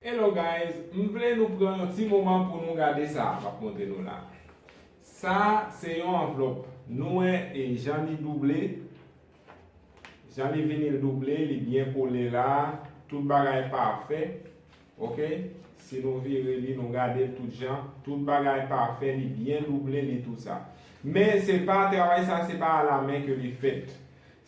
Hello guys m vle nou pran yon ti moman pou nou gade sa map montre nou la sa se yon anvlòp nou wè jan li double jan li vini l double li byen kole la tout bagay pafè ok si nou vire li nou gade l tout jan tout bagay pafè li byen double li tou sa men se pa travay sa se pa a la men ke li fèt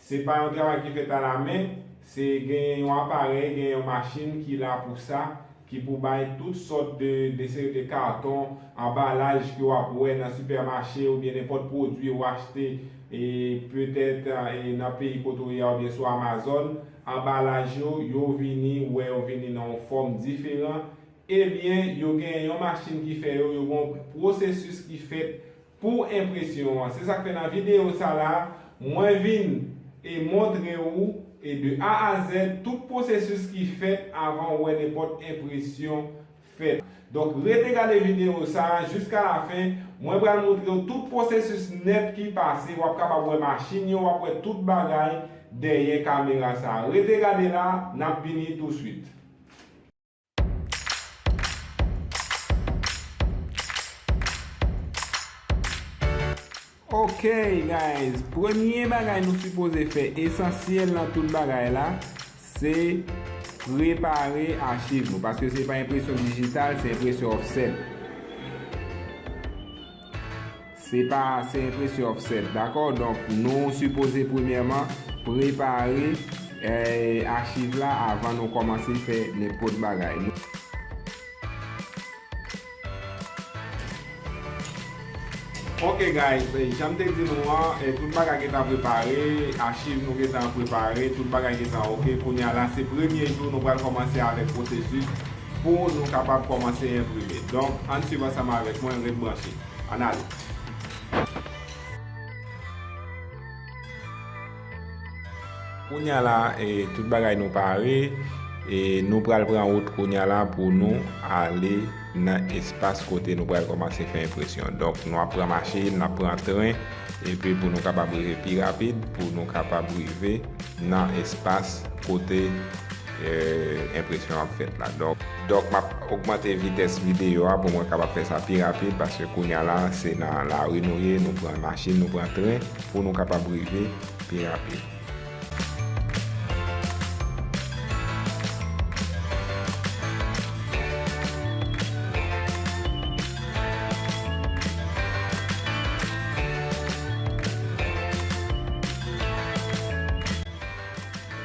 Se pa yon travay ki fèt alamen, se genyen yon aparèy, genyen yon machin ki la pou sa, ki pou bay tout sòt de de seri de karton, anbalaj ke w ap wè nan sipèmache oubyen nenpòt pwodui ou achte e petèt e nan peyi kote ou ye a oubyen sou Amazon, anbalaj yo, yo vini, ou wè yo vini nan yon fòm diferan, ebyen yo genyen yon machin ki fè yo, yo gen yon pwosesis ki fèt Pou enpresyon an. Se sak fè nan video sa la mwen vin e montre ou e de A a Z tout pwosesis ki fèt avan ou wè nenpòt enpresyon fèt. Donk rete gade video sa jiska la fen mwen pral montre ou tout pwosesis nèt ki pase wap kapab wè machin yo wap wè tout bagay dèyè kamera sa. Rete gade la nap vini tou swit. Ok guys premye bagay nou sipoze fè esansyèl nan tout bagay la se prepare achiv nou paske se pa enpresyon dijital se enpresyon offset. Se pa se enpresyon offset dakò donk nou sipoze premyèman prepare achiv la avan nou kòmanse fè nenpòt bagay. Ok guys janm te di nou an tout bagay gentan prepare achiv nou gentan prepare tout bagay gentan ok kounya la se premye jou nou pral kòmanse avèk pwosesis Pou nou kapab kòmanse enprime. Donk, ann swiv ansanm avèk mwen, ret branche. Ann ale! Kounya la, tout bagay nou pare, e nou pral pran wout kounya la pou nou ale nan espas kote nou pral kòmanse fè enpresyon. Donk, nou ap pran machin, n ap pran tren, epi pou nou kapab rive pi rapid, pou nou kapab rive nan espas kote. Enpresyon ap fèt la. Donk m ap ogmante vitès videyo a pou mwen kapab fè sa pi rapid paske kounya la se nan lari nou ye, nou pran machin, nou pran tren pou nou kapab rive pi rapid.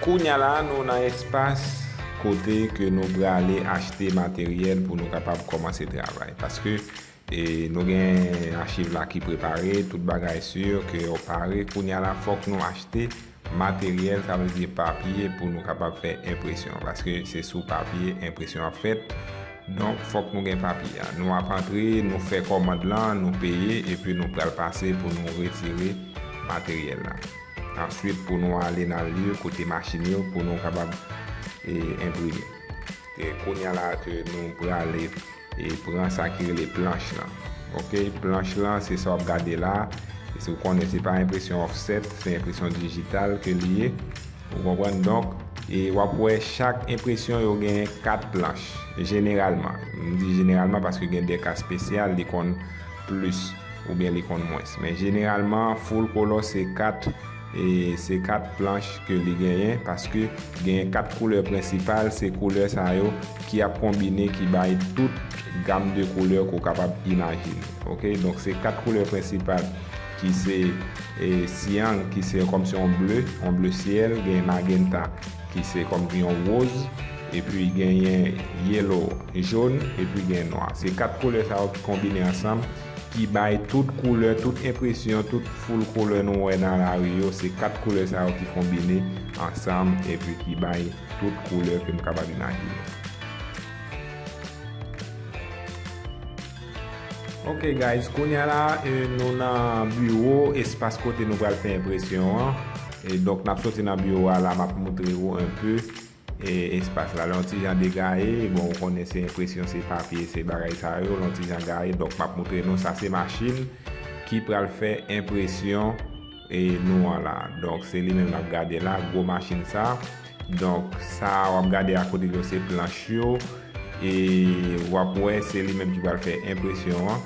Kounya la nou nan espas kote ke nou prale achte materyèl pou nou kapab kòmanse travay. Paske nou gen achiv la ki prepare, tout bagay sur ke yo pare. Kounya la fòk nou achte materyèl, sa vle di papye pou nou kapab fè enpresyon. Paske se sou papye enpresyon ap fèt. Donk fòk nou gen papye a. Nou ap antre, nou fè kòmand lan, nou peye, epi nou pral pase pou nou retire materyèl la. Answit pou nou ale nan lye kote machin yo pou nou kapab enprime. Kounya la ke nou prale pran sa ki rele planch lan. Ok, planch lan se sa wap gade la. Se ou konnen se pa enpresyon offset, se enpresyon digital ke li ye. Ou konprann donk, e wap wè chak enpresyon yo gen 4 planch. Jeneralman, m di jeneralman paske gen de ka spesyal li konn. plis oubyen li konn mwens. Men jeneralman full color se 4 e se 4 planch ke li genyen paske genyen 4 koulè prensipal se koulè sa yo ki ap konbine ki bay tout gam de koulè ke w kapab imajine ok donk se 4 koulè prensipal ki se e cyan ki se kòmsi yon ble yon ble syèl gen magenta ki se kòmsi yon woz Epi genyen yellow, jaune, epi gen nwa. Se 4 koulè sa yo ki konbine ansanm ki bay tout koulè, tout enpresyon, tout foul koulè nou wè nan lari yo, se 4 koulè sa yo ki konbine ansanm epi ki bay tout koulè ke nou kapab imajine. Ok guys, kounye a la nou nan biwo, espas kote nou pral fè enpresyon an. Donk n ap soti nan biwo a la m ap moutre ou enpe Espas la lon ti jan degaye, bon ou konnen se enpresyon se papye se bagay sa yo, lon ti jan gaye donk map moutre nou sa se machin ki pral fè enpresyon nou an la donk se li menm nap gade la gwo machin sa donk sa wap gade a kote yo se planch yo e wap wè se li menm ki pral fè enpresyon an.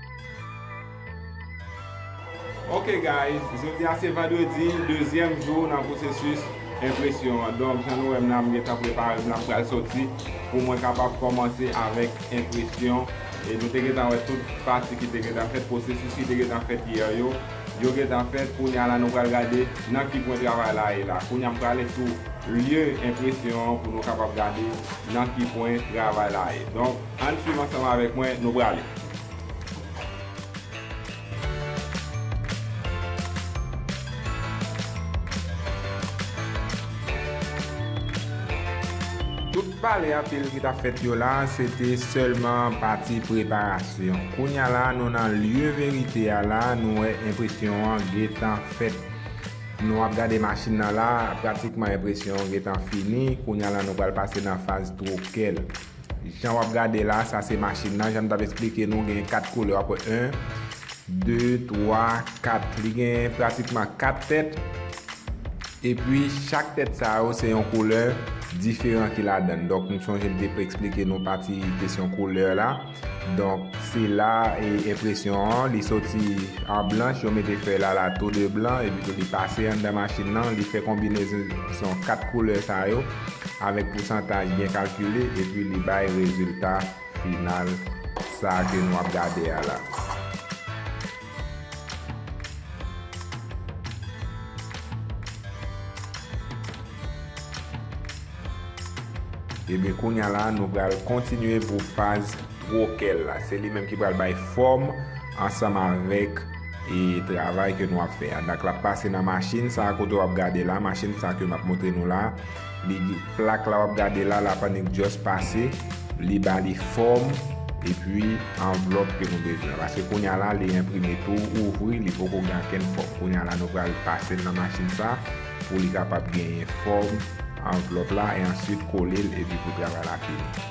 Ok guys, jodi a se vandredi, dezyèm jou nan pwosesis enpresyon an. Donk jan nou wè m la, m gentan prepare m, l ap pral soti pou mwen kapab kòmanse avèk enpresyon. E nou te gentan wè tout pati ki te gentan fèt, pwosesis ki te gentan fèt yè yo, yo gentan fèt. Kounye a la nou pral gade nan ki pwen travay la ye la. Kounye a m prale sou lye enpresyon an pou nou kapab gade nan ki pwen travay la ye. Ann swiv ansanm avèk mwen, nou prale. Tout pale anpil ki tap fèt yo la se te sèlman pati preparasyon. Kounya la nou nan lye verite a la nou wè enpresyon an gentan fèt. Nou ap gade machin nan la, pratikman enpresyon an gentan fini, kounya la nou pral pase nan faz twokèl. Jan wap gade la sa se machin nan jan m tap esplike nou gen 4 koulè wap wè 1 2 3 4 li gen pratikman 4 tèt epi chak tèt sa yo se yon koulè diferan ki ladann donk m sonje m te esplike nou pati kesyon koulè la donk se la enpresyon an li soti an blanch yo mete fèy la la tou 2 blan epi tou li pase anndan machin nan li fè konbinezon 4 koulè sa yo. avèk pousantaj byen kalkile epi li bay rezilta final sa ke nou ap gade a la. Ebyen kounya la nou pral kontinye pou faz. Trokel la. Se li menm ki pral bay fòm ansanm avèk e travay ke nou ap fè a. Dak lap pase nan machin sa kote wap gade la, machin sa ke map montre nou la. Li gen plak la wap gade la, la pannik just pase, li ba li fòm e pi anvlòp ke nou bezwen. Paske kounya la li enprime tou ouvri, li poko gen ankenn fòm. Kounya la nou pral pasel nan machin sa pou li kapab genyen fòm anvlòp la e answit kolel e pi pou travay la fini.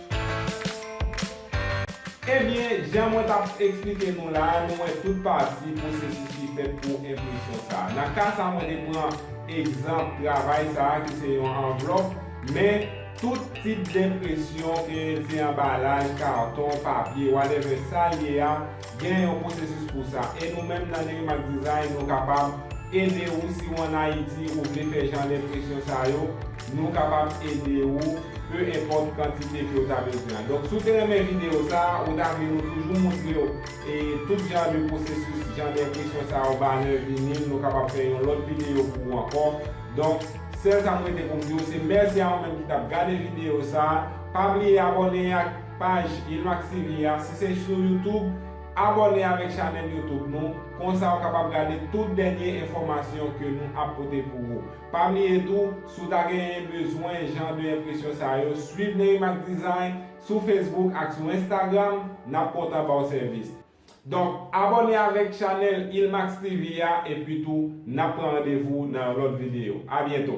Ebyen, jan mwen t ap eksplike nou la a, nou wè tout pati pwosesis ki fèt pou enpresyon sa a. Nan ka sa a mwen te pran egzanp travay sa a ki se yon anvlòp, men, tout tip denpresyon ke se anbalaj, karton, papye, whatever sa l ye a, Gen yon pwosesis pou sa. E nou menm nan Nerimax Design nou kapab ede ou si ou an Ayiti ou vle fè jan lenpresyon sa yo, nou kapab ede ou peu enpòt kantite ke ou ta bezwen an. Donk si ou te renmen videyo sa, ou ta vle nou toujou moutre ou e tout jan de pwosesis jan lenpresyon sa yo, banner, vinyl, nou kapab fè yon lòt videyo pou ou ankò. Donk sèl sa m rete pou m di ou se mèsi a ou menm ki t ap gade videyo sa, pa bliye abòne ak. Paj Yilmaz TV a, si se sou YouTube, abòne avèk chanèl YouTube nou, konsa ou kapab gade tout dènye enfòmasyon ke nou ap pote pou ou. Pa bliye tou, si w ta genyen bezwen jan de enpresyon sa yo, swiv Nerimac Design sou Facebook ak sou Instagram, nap kontan ba w sèvis. Donk abòne avèk chanèl Ilmax TV a epi tou nap pran randevou nan yon lòt videyo. A byento!